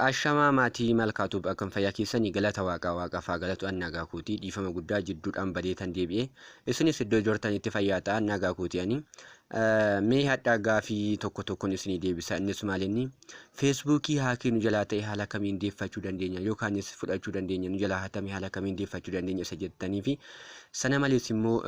Ashamaa maatii malkaatuuf akkam fayyaa keessanii galata waaqaa waaqaaf haa galatu an nagaa kootii dhiifama guddaa jidduudhaan badeetan deebi'e isinis iddoo jirtanitti fayyaa ta'an nagaa kootii ani Mee hadhaa gaafii tokko tokkon isinii deebisa innis maalinni feesbuukii haakii nu jalaa ta'e haala kamiin deeffachuu dandeenya yookaanis fudhachuu dandeenya nu jalaa hatame haala kamiin deeffachuu dandeenya isa jettanii fi sana malees immoo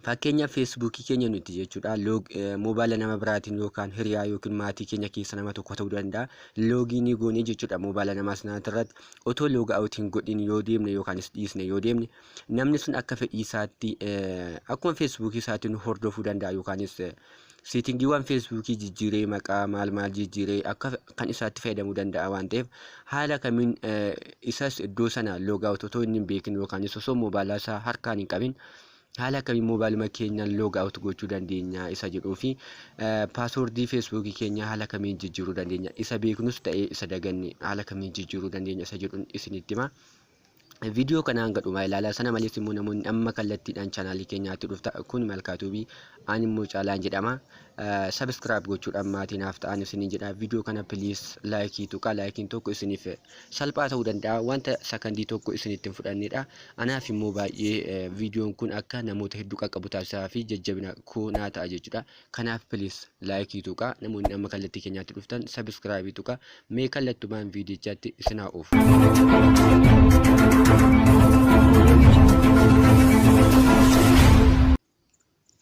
fakkeenya feesbuukii keenya nuti jechuudha loog moobaala nama biraatiin yookaan hiriyaa yookiin maatii keenya keessa nama tokko ta'uu danda'a loogii ni goonee jechuudha moobaala namaa sanaatirratti otoo looga awutiin godhin yoo deemne yookaanis dhiisne yoo deemne namni sun akka fedhii isaatti akkuma feesbuukii isaatti nu hordofuu danda'a yookaanis seetingiiwwan feesbuukii jijjiiree maqaa maal maal jijjiiree akka kan isaatti fayyadamuu danda'a waan ta'eef haala kamiin isas iddoo sana loogaawut otoo inni hin beekin yookaanis osoo moobaalaa isaa harkaan hin qabin haala kamiin moobaaluma keenyaan loogaawut gochuu dandeenya isa jedhuu fi paaswoordii feesbuukii keenya haala kamiin jijjiiruu dandeenya isa beeknus ta'ee isa daganne haala kamiin jijjiiruu dandeenya isa jedhuun isinitti hima. Viidiyoo kana hanga dhumaa ilaalaa sana malees immoo namoonni amma kallattiidhaan chaanaalii keenyaatti dhufta kun malkaatuubii aan immoo caalaan jedhama sabiskiraayib gochuudhaan maatii naaf ta'an isiniin jedha viidiyoo kana piliis laayikii tuqaa laayikiin tokko isiniif salphaa ta'uu danda'a wanta sakandii tokko isinitti hin fudhannedha anaaf immoo baay'ee viidiyoon kun akka namoota hedduu qaqqabu taasisaa fi jajjabina koo naa ta'a jechuudha Kanaaf please like tuqaa namoonni amma kallattii keenyaatti dhuftan subscribe tuqaa mee kallattumaan viidiyichaatti isin haa oofu.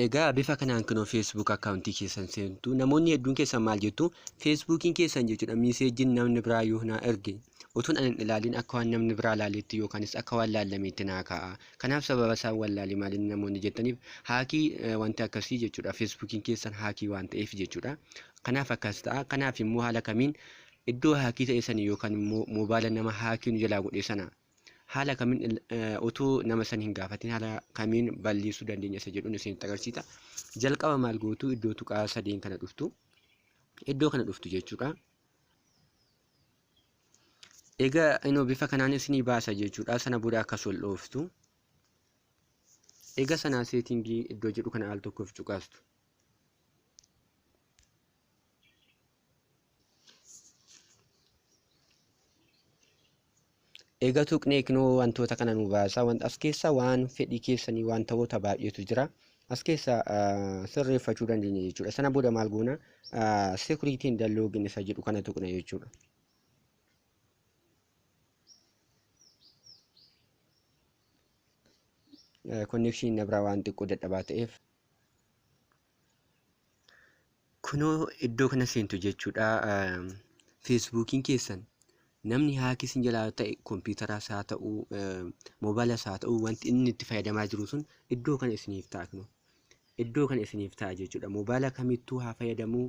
Egaa bifa kanaan kunoo Facebook akkaawuntii keessan seentu namoonni hedduun keessan maal jettu Facebookiin keessan jechuudha miiseejiin namni biraa yoo naa erge Utuun ani hin ilaaliin akka waan namni biraa ilaaleetti yookaanis akka waan laallameetti naa kaa'a. Kanaaf sababa isaan wallaale maalinni namoonni jettaniif haakii eh, wanti akkasii jechuudha. Feesbuukiin keessan haakii waan ta'eef jechuudha. Kanaaf akkas ta'a. Kanaaf immoo haala kamiin iddoo haakii ta'e sanii yookaan immoo moobaala nama haakii nu jalaa godhe sana haala kamiin il- eh, utuu nama san hin gaafatin haala kamiin balleessuu dandeenya isa jedhuun isinitti agarsiisa. Jalqaba maal gootu iddoo tuqaa sadeen kana dhuftu. Iddoo kana dhuftu jechuudha. Egaa inoo bifa kanaan isinii baasa jechuudha. Sana booda akka sol dhooftu. Egaa sanaa seetingii iddoo jedhu kana al tokkoof cuqaastu. Egaa tuqnee kinoo wantoota kana nu baasa. Wanta as keessa waan fedhii keessanii wantoota baay'eetu jira. As keessa ah, sirreeffachuu dandeenya jechuudha. Sana booda maal goona? Sekuriitiin dalloogin isa jedhu kana tuqna jechuudha. Konnekshiin na biraa waan xiqqoo dadhabaa ta'eef Kunoo iddoo kana seentu jechuudha. Feesbuukiin keessan namni haakii isin jalaa ta'e kompiitaras haa ta'u moobaayilaa haa ta'u wanti inni itti fayyadamaa jiru sun iddoo kana isiniif ta'a kunoo. Iddoo kana isiniif ta'a jechuudha. Moobaayila kamittuu haa fayyadamuu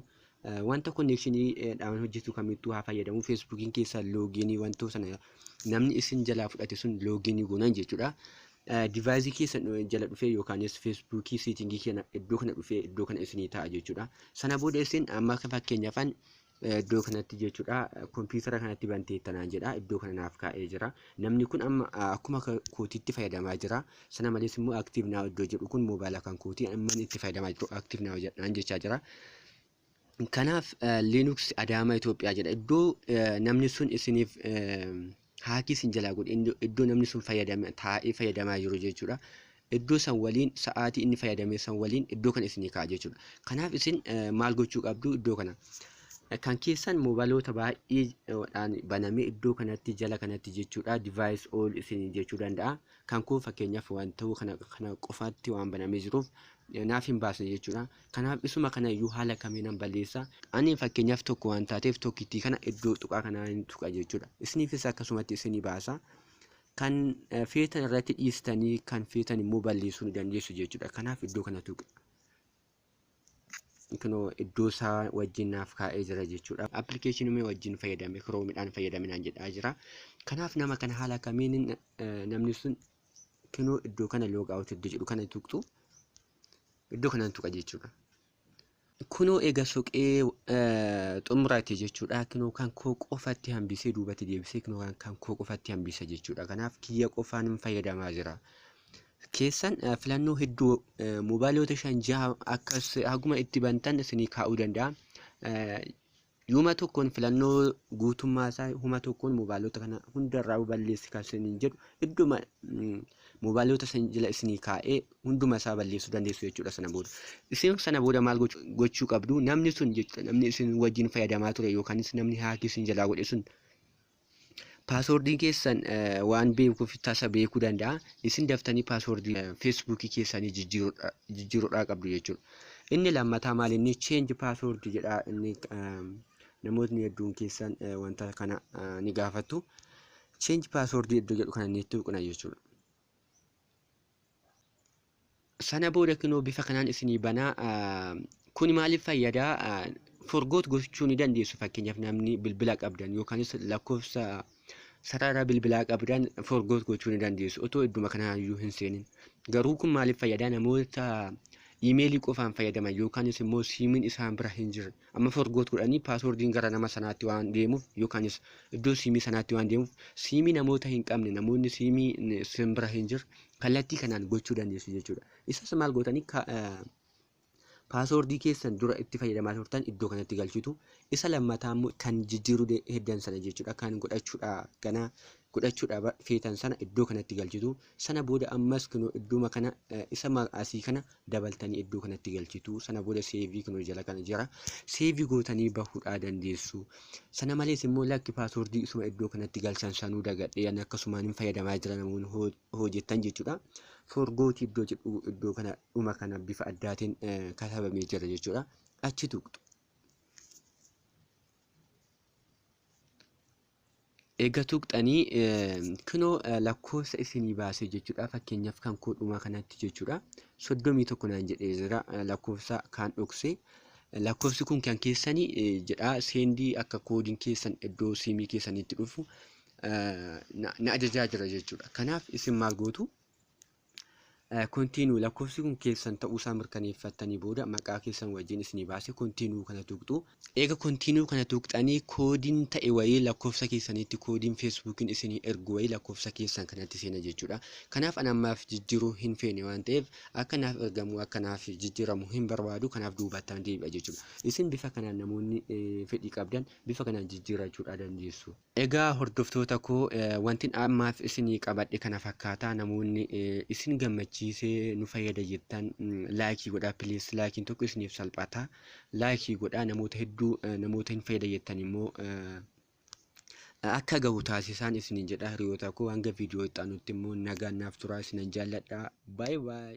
Wanta konneekshinii dhaan hojjetu kamittuu haa fayyadamu. Feesbuukiin keessa loogiinii wantoo sana namni isin jalaa fudhate sun loogiinii goonan jechuudha. Divaayizii keessa jala dhufee yookaanis feesbuukii seetingii keenya iddoo kana dhufee iddoo kana isinii ta'a jechuudha. Sana booda isin amma fakkeenyaafan iddoo kanatti jechuudha kompiitara kanatti banteetta naan jedha iddoo kana naaf kaa'ee jira. Namni kun amma akkuma kootiitti fayyadamaa jira. Sana malees immoo active now iddoo jedhu kun mobile kan kooti amman itti fayyadamaa jiru active now jedhaan jechaa jira. Kanaaf Linux Adaamaa Itoophiyaa jedha iddoo namni sun isiniif haakii isin jalaa godhe iddoo namni sun fayyadame taa'ee fayyadamaa jiru jechuudha. Iddoo san waliin sa'aatii inni fayyadame san waliin iddoo kana isinii kaa'a jechuudha. Kanaaf isin maal gochuu qabdu iddoo kana. kan keessan moobaloota baay'eedhaan banamee iddoo kanatti jala kanatti jechuudha device all isin jechuu danda'a Kan kun fakkeenyaaf waan ta'uu kana kana qofaatti waan banamee jiruuf naaf hin baasne jechuudha. Kanaaf isuma kana iyyuu haala kamiinan balleessa. Ani fakkeenyaaf tokko waan taateef tokkittii kana iddoo tuqaa kanaa hin tuqa jechuudha. Isiniifis akkasumatti isinii baasa. Kan feetan irratti dhiistanii kan feetan immoo balleessuu ni dandeessu jechuudha. Kanaaf iddoo kana tuqa. kunoo iddoo isaa wajjin naaf kaa'ee jira jechuudha. Appilikeeshinii wajjin fayyadame kiroomiidhaan fayyadaminaan jedhaa jira. Kanaaf nama kana haala kamiin namni sun kunoo iddoo kana log out iddoo jedhu kana tuqxu iddoo kanaan tuqa jechuudha. Kunoo egaa soqee xumurate jechuudha. Kunoo kan koo qofatti hambisee duubatti deebisee kunoo kan koo qofatti hambisa jechuudha. Kanaaf kiyya qofaan fayyadamaa jira. keessan eh, filannoo hedduu eh, moobaaloota shan jaha akkas haguma itti bantan isinii kaa'uu danda'a. Eh, Yuma tokkoon filannoo guutummaa isaa huma tokkoon moobaaloota kana hundarraa balleessi kan isiniin jedhu idduma mm, moobaaloota san jala isinii kaa'ee hunduma isaa balleessuu dandeessu jechuudha sana booda. Isin sana booda maal gochuu gochuu qabdu namni sun jechuudha namni isin wajjin fayyadamaa ture yookaanis namni haakii isin jalaa godhe sun Paaswoordiin keessan waan beekuuf tasa beekuu danda'a. Isin daftanii paaswoordii feesbuukii keessanii jijjiiruudhaa qabdu jechuudha. Inni lammataa maal inni change password jedha inni namootni hedduun keessan wanta kana ni gaafattu. Change password iddoo jedhu kana ni tuqna jechuudha. sana booda kinoo bifa kanaan isinii banaa kuni maaliif fayyada forgoot gochuu ni dandeessu fakkeenyaaf namni bilbila qabdan yookaanis lakkoofsa sarara bilbilaa qabdan forgoot gochuu ni dandeessu otoo idduma kanaayyuu hin seenin garuu kun maaliif fayyada namoota iimeelii qofaan fayyadaman yookaanis immoo siimiin isaan bira hin jirre Amma forgot godhanii passwordin gara nama sanaatti waan deemuuf yookaanis iddoo siimii sanaatti waan deemuuf siimii namoota hin qabne namoonni siimii sin bira hin jirre kallattii kanaan gochuu dandeessu jechuudha. Isas maal gootanii paaswordii keessan dura itti fayyadamaa turtan iddoo kanatti galchitu isa lammataa immoo kan jijjiiruu heddan sana jechuudha kan godhachuudha ganaa godhachuudha feetan sana iddoo kanatti galchitu Sana booda ammas kunoo iddooma kana isa ma- asii kana dabaltanii iddoo kanatti galchitu. Sana booda seevii kunoo jala kana jira. Seevii gootanii bahuudhaa dandeessu. Sana malees immoo lakki paaswordii isuma iddoo kanatti galchan sanuu dagadhee ani akkasumaan hin fayyadamaa jira namoonni hoo- hojjettan jechuudha. Forgooti iddoo jedhu iddoo kana dhuma kana bifa addaatiin eh, katabamee jira jechuudha. Achi tuqxu. Eega tuqxanii kunoo lakkoofsa isinii baasee jechuudha. Fakkeenyaaf kan koo dhumaa kanatti jechuudha. Soddomii tokko naan jedhee jira lakkoofsa kaan dhokse. Lakkoofsi kun kan keessani jedha seendii akka koodiin keessan iddoo siimii keessanitti dhufu na ajajaa jira jechuudha. Kanaaf isin maal gootu? Continue lakkoofsi kun keessan ta'uusaa mirkaneeffattanii booda maqaa keessan wajjin isinii baase continue kana tuqxu. Eega continue kana tuqxanii koodiin ta'e wayii lakkoofsa keessaniitti koodiin Facebookiin isinii ergu wayii lakkoofsa keessan kanatti seena jechuudha. Kanaaf an ammaaf jijjiiruu hin feene waan ta'eef akka naaf ergamu akka naaf jijjiiramu hin barbaadu kanaaf duubattaan deebi'a jechuudha. Isin bifa kanaan namoonni fedhii qabdan bifa kanaan jijjiirrachuudhaa dandeessu. Egaa hordoftoota koo wantin ammaaf isinii qabadhe kana fakkaata namoonni isin gammachiise nu fayyada jettan laayikii godhaa please laayikiin tokko isiniif salphata laayikii godhaa namoota hedduu namoota hin fayyada jettan immoo akka gahu taasisaan isiniin jedha hiriyoota koo hanga viidiyoo itti aanutti immoo nagaan naaf turaa isinan jaalladha baay baay